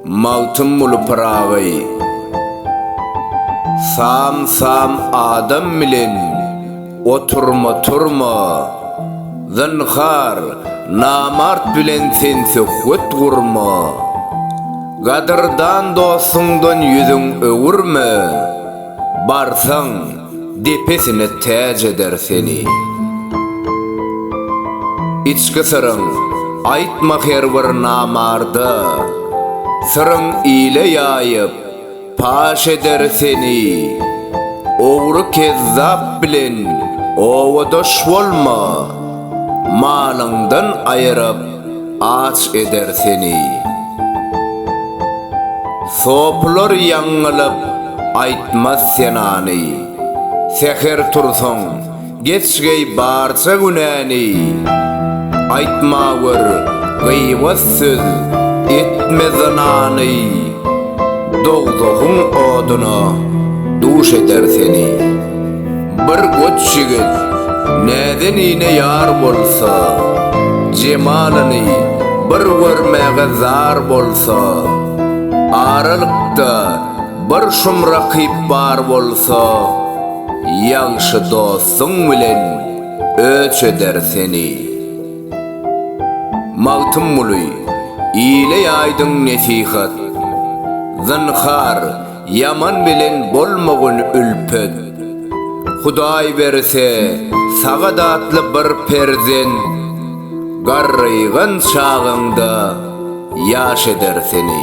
Magtymguly Pyragy Sam-sam adam bilen oturma-turma, Zynhar, namart bilen sen söhbet gurma, Gadyrdan dostuňdan ýüzüň öwürme. Barsaň, depesine täç eder seni. Içki syryň aýtma her bir namarda, Syryň ile ýaýyp, paş eder seni. Ogry kezzap bilen obadaş bolma, Malyňdan aýyryp, Aç eder seni. Sopylar ýaňňylyp, aýtmaz senany. Säher tursaň, geç geý barça günäni. Aýtma gör, gyýbat söz, etme zynany. Dogzahyň oduna duş eder seni. Bir goç ýigit näzenine ýar bolsa, jemalyny bir görmäge zar bolsa, aralykda bir şum rakyp bar bolsa, ýagşy dostuň bilen öç eder seni. Magtymguly, ile ýaýdyň nesihat. Zynhar, Ýaman bilen bolmagyn ülpet. Hudaý berse, sagadatly bir perzent garrygan çagyňda ýaş eder seni.